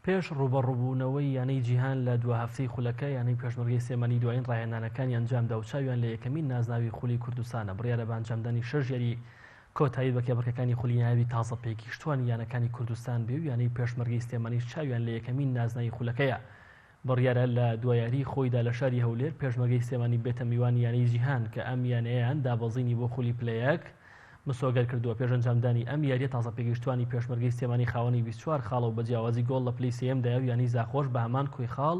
پێش رووبەڕووبوونەوەی یانەی جیهان لە دوا هەفتەی خولەکە، یانەی پێشمەرگەی سلێمانی دوایین راهێنانەکانی ئەنجامدا و چاویان لە یەکەمین نازناوی خولی کوردستانە، بڕیارە بە ئەنجامدانی شەش یاری کۆتایی بە کێبڕکێکانی خولی نایابی تازە پێگیشتووانی یانەکانی کوردستان بێ و یانەی پێشمەرگەی سلێمانیش چاویان لە یەکەمین نازناوی خولەکەیە بڕیارە لە دوا یاریی خۆیدا لە شاری هەولێر، پێشمەرگەی سلێمانی ببێتە میوانی یانەی جیهان، کە ئەم یانەیەیان دابەزینی بۆ خولی پلە یەک مسۆگەر کردووە، پێش ئەنجامدانی ئەم یارییە تازەپێگەیشتووانی پێشمەرگەی سلێمانی خاوەنی بیست و چوار خاڵە و بە جیاوازی گۆڵ لە پلەی سێیەم دایەو یانەی زاخۆش بە هەمان کۆی خاڵ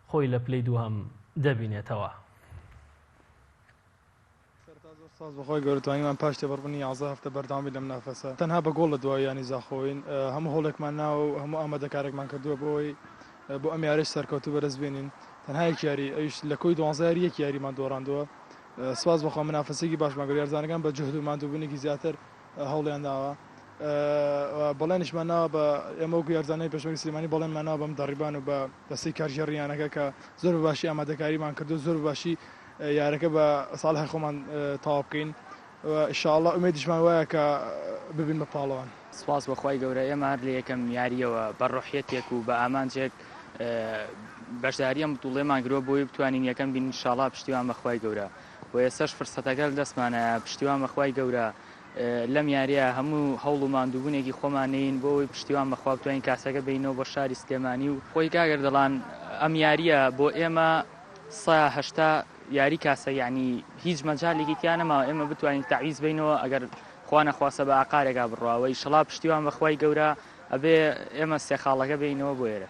خۆی لە پلەی دووهەم دەبینێتەوە. سەرەتا زۆر سوپاس بەخوای گەورە توانیمان پاش تێپەڕبونی یازدە هەفتە بەردەوام بین لەم نافەسە تەنها بە گۆڵ لە دواوی یانەی زاخۆین هەموو هەوڵێکمان ناوە و هەموو ئامادەکاریەکمان کردوە بۆ ئەوەی بۆ ئەم یاریەش سەرکەوتوو بەرەز بێنین تەنها یەک یاری ئەویش لە کۆی دوانزە یاری یەک یاریمان دۆڕاندوە سوپاس بەخوا منافەسێکی باشمان کرد یارزانەکان بە جوهد و ماندوبونێکی زیاتر هەوڵیان داوە و بەڵێنیشمان ناوە بە ئێمە وەکو یارزانانی پێشمەرگەی سلێمانی بەڵێنمان ناوە بەم دەڕیبان و بە دەستەی کارگێڕی یانەکە کە زۆر بە باشی ئامادەکاریمان کردو زۆر بە باشی یارەکە بە ساڵحی خۆمان تەواو بکەین و ان شاء اللە ئومێدیشمان وایە کە ببین بە پاڵەوان. سوپاس بۆ خوای گەورە ئێمە هەر لە یەکەم یارییەوە بە ڕۆحیەتێک و بە ئامانجێک بەشداری ئەم بتوڵەیەمان گرەوە بۆی بتوانین یەکەم بین ان شاء اللە پشتیوان بە خوای گەورە. و ئێستاش فرسەتەکە لە دەستمانایە پشتیوان بە خوای گەورە لەم یاریە هەموو هەوڵ و ماندووبونێکی خۆمانین بۆ ئەوی پشتیوان بەخوا بتوانین کاسەکە بینەوە بۆ شاری سلێمانی و خۆی کاگەر دەڵان ئەم یاریە بۆ ئێمە سە هەشتا یاری کاسە یعنی هیچ مەجالێکی تیا نەماوە ئێمە بتوانین تعویز بینەوە ئەگەر خوانە خواسە بە ئاقارێکا بڕواوەی شڵا پشتیوان بەخوای گەورە ئەبێ ئێمە سێ خاڵەکە بینەوە بۆ ئێرە.